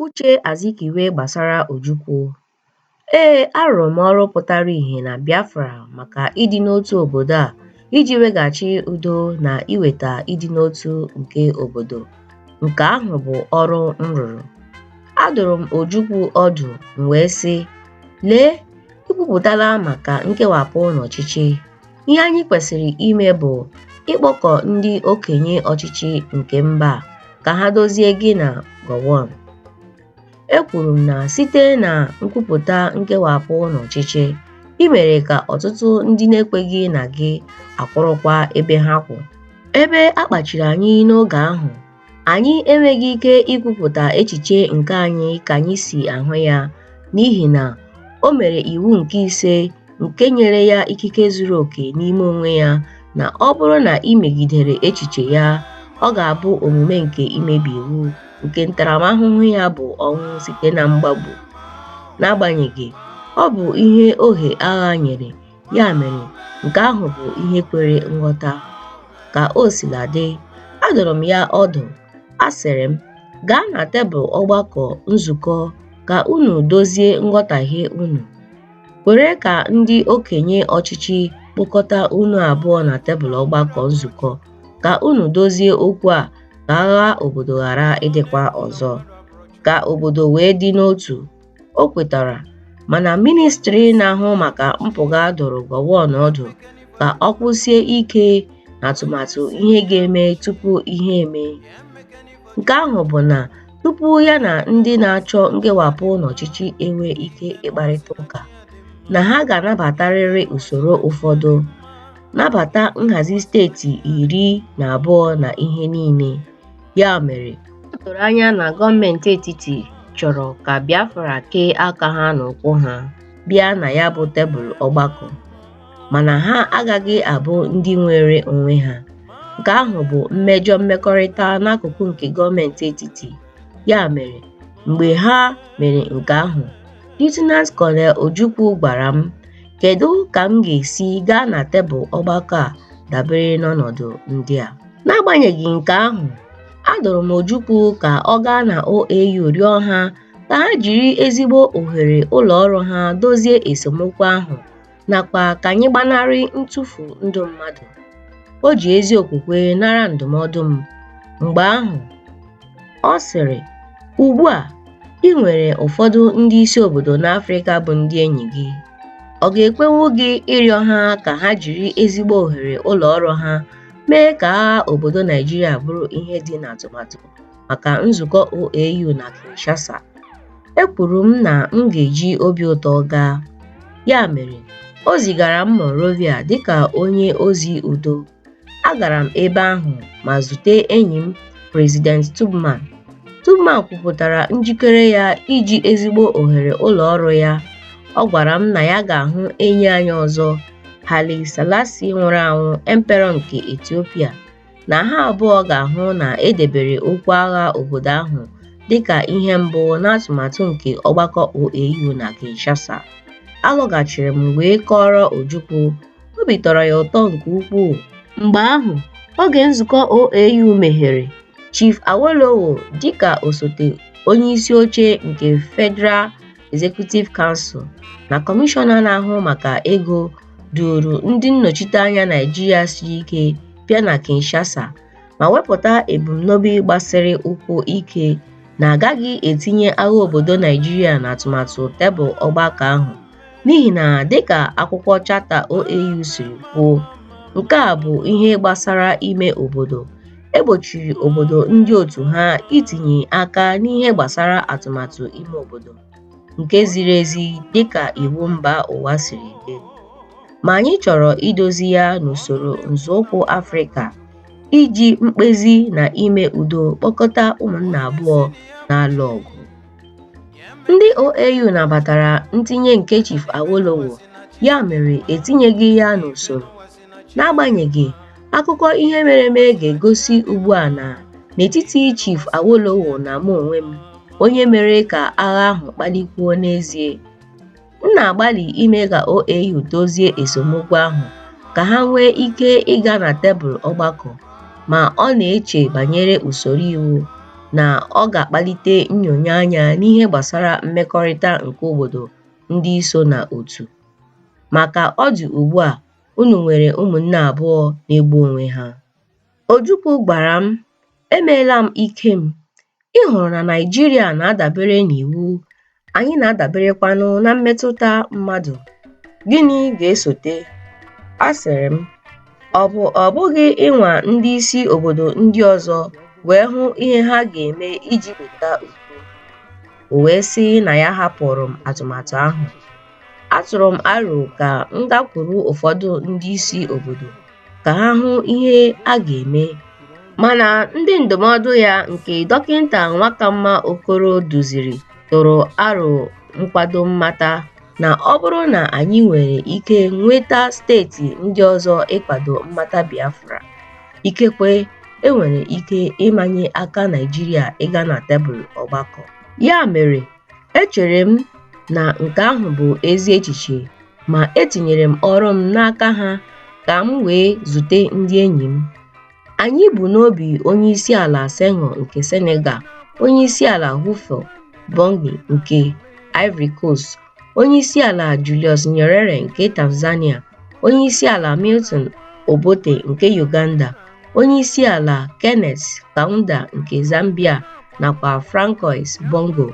Uche Azikiwe gbasara Ojukwu Ee, arụrụ m ọrụ pụtara ihe na Biafra maka ịdị n'otu obodo a iji weghachi udo na iweta ịdị n'otu nke obodo. Nke ahụ bụ ọrụ m rụrụ. Adụrụ m Ojukwu ọdụ m wee sị, Lee, i kwupụtala maka nkewapụ n'ọchịchị. ihe anyị kwesịrị ime bụ ịkpọkọ ndị okenye ọchịchị nke mba ka ha dozie gị na Gowon. Ekwuru m na site na nkwupụta nkewapụ n'ọchịchị, i mere ka ọtụtụ ndị na-ekweghị na gị akwụrụkwa ebe ha kwụ. Ebe a kpachiri anyị n'oge ahụ Anyị enweghị ike ikwupụta echiche nke anyị ka anyị si ahụ ya n'ihi na o mere iwu nke ise nke nyere ya ikike zuru oke n'ime onwe ya na ọ bụrụ na i megidere echiche ya, ọ ga-abụ omume nke imebi iwu nke ntaramahụhụ ya bụ ọnwụ site na mgbagbu. N'agbanyeghị, ọ bụ ihe ohe agha nyere Ya mere, nke ahụ bụ ihe kwere nghọta. Ka o sila dị, adụrụ m ya ọdụ, asịrị m, Gaa na tebụl ọgbakọ nzukọ ka unu dozie nghọtahie unu. Kwere ka ndị okenye ọchịchị kpọkọta unu abụọ na tebụl ọgbakọ nzukọ ka unu dozie okwu a ka agha obodo ghara ịdịkwa ọzọ, ka obodo wee dị n'otu. o kwetara mana ministri na-ahụ maka mpụga dụrụ Gowon ọdụ ka ọ kwụsie ike n'atụmatụ ihe ga-eme tupu ihe eme nke ahụ bụ na tupu ya na ndị na-achọ nkewapụ n'ọchịchị enwe ike ịkparịta ụka na ha ga-anabatarịrị usoro ụfọdụ nabata nhazi steeti iri na abụọ na ihe niile. Ya mere, o doro anya na gọọmenti etiti chọrọ ka Biafra kee aka ha na ụkwụ ha bịa na ya bụ tebụl ọgbakọ, mana ha agaghị abụ ndị nwere onwe ha. Nke ahụ bụ mmejọ mmekọrịta n'akụkụ nke gọọmenti etiti. Ya mere, mgbe ha mere nke ahụ, Lieutenant Colonel Ojukwu gwara m Kedu ka m ga-esi gaa na tebụl ọgbakọ a dabere n'ọnọdụ ndị a? N'agbanyeghị nke ahụ, adụrụ m Ojukwu ka ọ gaa na OAU rịọ ha ka ha jiri ezigbo ohere ụlọ ọrụ ha dozie esemokwu ahụ nakwa ka anyị gbanarị ntụfu ndụ mmadụ. O ji ezi okwukwe nara ndụmọdụ m. Mgbe ahụ, Ọ sịrị, Ugbu a, i nwere ụfọdụ ndị isi obodo n'Afrịka bụ ndị enyi gị. Ọ ga-ekwenwu gị ịrịọ ha ka ha jiri ezigbo ohere ụlọ ọrụ ha mee ka agha obodo Naijiria bụrụ ihe dị n'atụmatụ maka nzukọ OAU na Kinshasa? Ekwuru m na m ga-eji obi ụtọ gaa. Ya mere, o zigara m Monrovia dịka onye ozi udo. agara m ebe ahụ ma zute enyi m President Tubman. Tubman kwupụtara njikere ya iji ezigbo ohere ụlọ ọrụ ya. Ọ gwara m na ya ga-ahụ enyi anyị ọzọ, Haile Selassie nwụrụ anwụ, Emperor nke Ethiopia, na ha abụọ ga-ahụ na e debere okwu agha obodo ahụ dị ka ihe mbụ n'atụmatụ nke ọgbakọ OAU na Kinshasa. Alọghachiri m wee kọọrọ Ojukwu obi tọrọ ya ụtọ nke ukwuu. Mgbe ahụ, oge nzukọ OAU meghere, Chief Awolowo dịka osote onyeisi oche nke Federal Executive Council na Kọmishọna na-ahụ maka ego duuru ndị nnọchiteanya Naịjirịa siri ike bịa na Kinshasa ma wepụta ebumnobi gbasiri ụkwụ ike na agaghị etinye agha obodo Naịjirịa n'atụmatụ tebụl ọgbakọ ahụ. n'ihi na dịka akwụkwọ chata OAU siri kwuo nke a bụ ihe gbasara ime obodo e gbochiri obodo ndị otu ha itinye aka n'ihe gbasara atụmatụ ime obodo nke ziri ezi dịka iwu mba ụwa siri dị ma anyị chọrọ idozi ya n'usoro nzọụkwụ Afrịka iji mkpezi na ime udo kpọkọta ụmụnna abụọ na-alụ ọgụ Ndị OAU nabatara ntinye nke Chief Awolowo, ya mere etinyeghị ya n'usoro. N'agbanyeghị, akụkọ ihe mere eme ga-egosi ugbu a na n'etiti Chief Awolowo na mụ onwe m, onye mere ka agha ahụ kpalikwuo n'ezie. M na-agbalị ime ka OAU dozie esemokwu ahụ ka ha nwee ike ịga na tebụl ọgbakọ, ma ọ na-eche banyere usoro iwu na ọ ga-akpalite nnyonye anya n'ihe gbasara mmekọrịta nke obodo ndị so na otu. Ma ka ọ dị ugbu a, unu nwere ụmụnne abụọ na-egbu onwe ha. Ojukwu gwara m, Emeela m ike m. Ị hụrụ na Naịjirịa na-adabere n'iwu, anyị na-adaberekwanụ na mmetụta mmadụ. Gịnị ga-esote? Asịrị m, ọ bụ ọ bụghị ịnwa ndị isi obodo ndị ọzọ wee hụ ihe ha ga-eme iji weta udo? O wee sị na ya hapụụrụ m atụmatụ ahụ. atụrụ m aro ka m gakwuru ụfọdụ ndị isi obodo ka ha hụ ihe a ga-eme mana ndị ndụmọdụ ya nke dọkịta Nwakamma Okoro duziri tụrụ aro nkwado mmata na ọ bụrụ na anyị nwere ike nweta steeti ndị ọzọ ịkwado mmata Biafra, ikekwe e nwere ike ịmanye aka Naịjirịa ịga na tebụl ọgbakọ. Ya mere, Echere m na nke ahụ bụ ezi echiche, ma etinyere m ọrụ m n'aka ha ka m wee zute ndị enyi m. Anyị bu n'obi onye isi ala Senghor nke Senegal, onye isi ala Houphouët Boigny nke Ivory Coast, onye isi ala Julius Nyerere nke Tanzania, onye isi ala Milton Obote nke Uganda, Onye isi ala Kenneth Kaunda nke Zambia nakwa Francois Bongo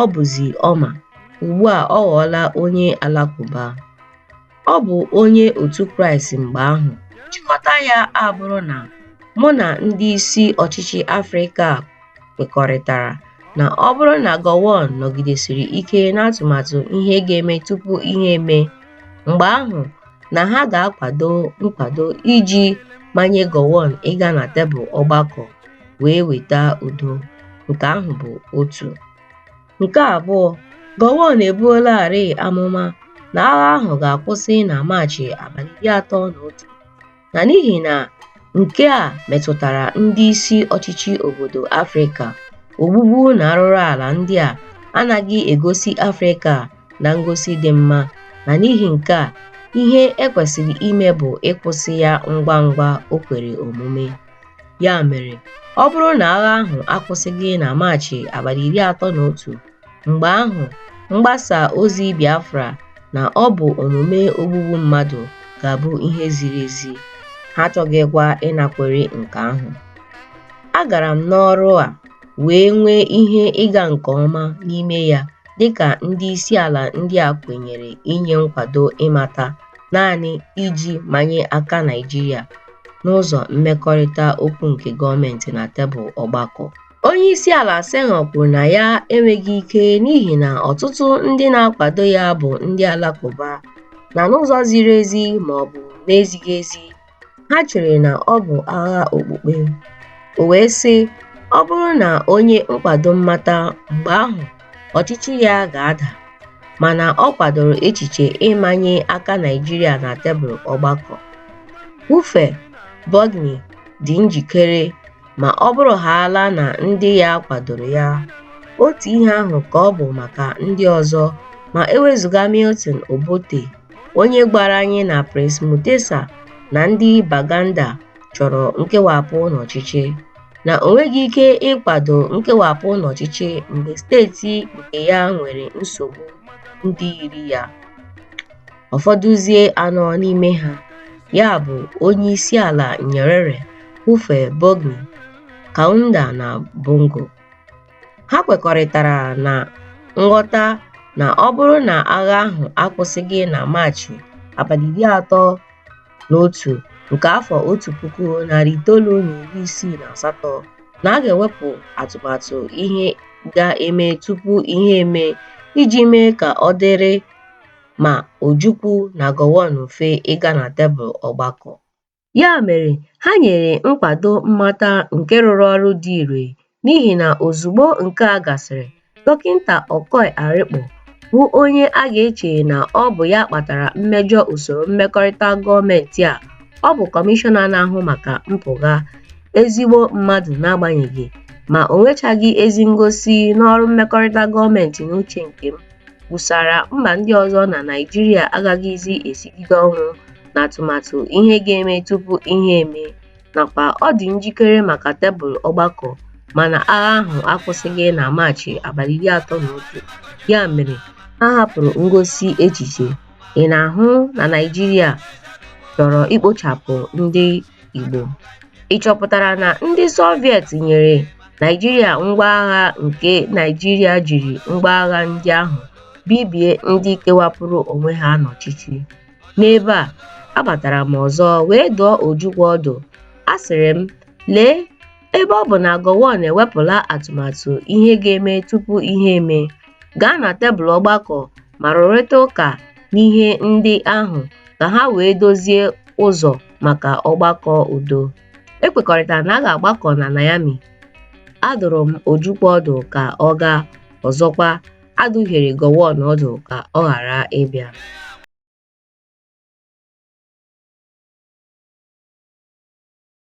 ọ bụzi Omar ugbu a ọ ghọọla onye Alakụba. Ọ bụ onye otu Kraịst mgbe ahụ. Nchịkọta ya abụrụ na mụ na ndị isi ọchịchị Afrịka kwekọrịtara na ọ bụrụ na Gowon nọgidesiri ike n'atụmatụ ihe ga-eme tupu ihe emee, mgbe ahụ na ha ga-akwado nkwado iji manye Gowon ịga na tebụl ọgbakọ wee weta udo. Nke ahụ bụ otu. Nke abụọ, Gowon ebuolarịị amụma na agha ahụ ga-akwụsị na Maachị abalị iri atọ na otu na n'ihi na nke a metụtara ndị isi ọchịchị obodo Afrịka, ogbugbu na arụrụala ndị a anaghị egosi Afrịka na ngosi dị mma na n'ihi nke a, ihe e kwesịrị ime bụ ịkwụsị ya ngwa ngwa o kwere omume. Ya mere, ọ bụrụ na agha ahụ akwụsịghị na Maachị abalị iri atọ na otu, mgbe ahụ mgbasa ozi Biafra na ọ bụ omume ogbugbu mmadụ ga-abụ ihe ziri ezi, ha achọghịkwa ịnakwere nke ahụ. Agara m n'ọrụ a wee nwee ihe ịga nke ọma n'ime ya dịka ndị isi ala ndị a kwenyere inye nkwado ịmata naanị iji manye aka Naịjirịa n'ụzọ mmekọrịta okwu nke gọọmenti na tebụl ọgbakọ. Onye isi ala Senghor kwuru na ya enweghị ike n'ihi na ọtụtụ ndị na-akwado ya bụ ndị Alakụba na n'ụzọ ziri ezi ma ọ bụ na-ezighị ezi, ha chere na ọ bụ agha okpukpe. O wee sị, Ọ bụrụ na o nye nkwado mmata, mgbe ahụ ọchịchị ya ga-ada mana ọ kwadoro echiche ịmanye aka Naịjirịa na tebụl ọgbakọ. Houphouët-Boigny dị njikere ma ọ bụrụ haala na ndị ya kwadoro ya. Otu ihe ahụ ka ọ bụ maka ndị ọzọ ma ewezuga Milton Obote onye gwara anyị na Prince Mutesa na ndị Baganda chọrọ nkewapụ n'ọchịchị. na o nweghị ike ịkwado nkewapụ n'ọchịchị mgbe steeti nke ya nwere nsogbu ndị yiri ya ụfọdụzie anọ n'ime ha ya bụ onye isi ala nyerere houphouët-boigny kaunda na bongo ha kwekọrịtara na nghọta na ọ bụrụ na agha ahụ akwụsịghị na maachị abalị iri atọ na otu nke afọ otu puku narị itoolu na iri isii na asatọ na a ga-ewepụ atụmatụ ihe ga-eme tupu ihe eme iji mee ka ọ dịrị ma Ojukwu na Gowon mfe ịga na tebụl ọgbakọ. Ya mere, ha nyere nkwado mmata nke rụrụ ọrụ dị ire n'ihi na ozugbo nke a gasịrị dọkịta Okoi Arikpo bụ onye a ga-eche na ọ bụ ya kpatara mmejọ usoro mmekọrịta gọọmenti a ọ bụ kọmishọna na-ahụ maka mpụga ezigbo mmadụ n'agbanyeghị ma o nwechaghị ezi ngosi n'ọrụ mmekọrịta gọọmenti n'uche nke m kwusara mba ndị ọzọ na Naịjirịa agaghịzi esigide ọnwụ n'atụmatụ ihe ga-eme tupu ihe eme nakwa ọ dị njikere maka tebụl ọgbakọ mana agha ahụ akwụsịghị na Maachị abalị iri atọ na otu, ya mere ha hapụrụ ngosi echiche. Ị na-ahụ na Naịjirịa chọrọ ikpochapụ ndị Igbo. Ị chọpụtara na ndị Soviet nyere Naịjirịa ngwa agha nke Naịjirịa jiri ngwa agha ndị ahụ bibie ndị kewapụrụ onwe ha n'ọchịchị. N'ebe a, abatara m ọzọ wee dụọ Ojukwu ọdụ. Asịrị m, Lee, ebe ọ bụ na Gowon ewepụla atụmatụ ihe ga-eme tupu ihe eme, gaa na tebụl ọgbakọ ma rụrịta ụka n'ihe ndị ahụ ka ha wee dozie ụzọ maka ọgbakọ udo. Ekwekọrịtara na a ga-agbakọ na Niamey. Adụrụ m Ojukwu ọdụ ka ọ gaa, ọzọkwa, A dụhiere Gowon ọdụ ka ọ ghara ịbịa.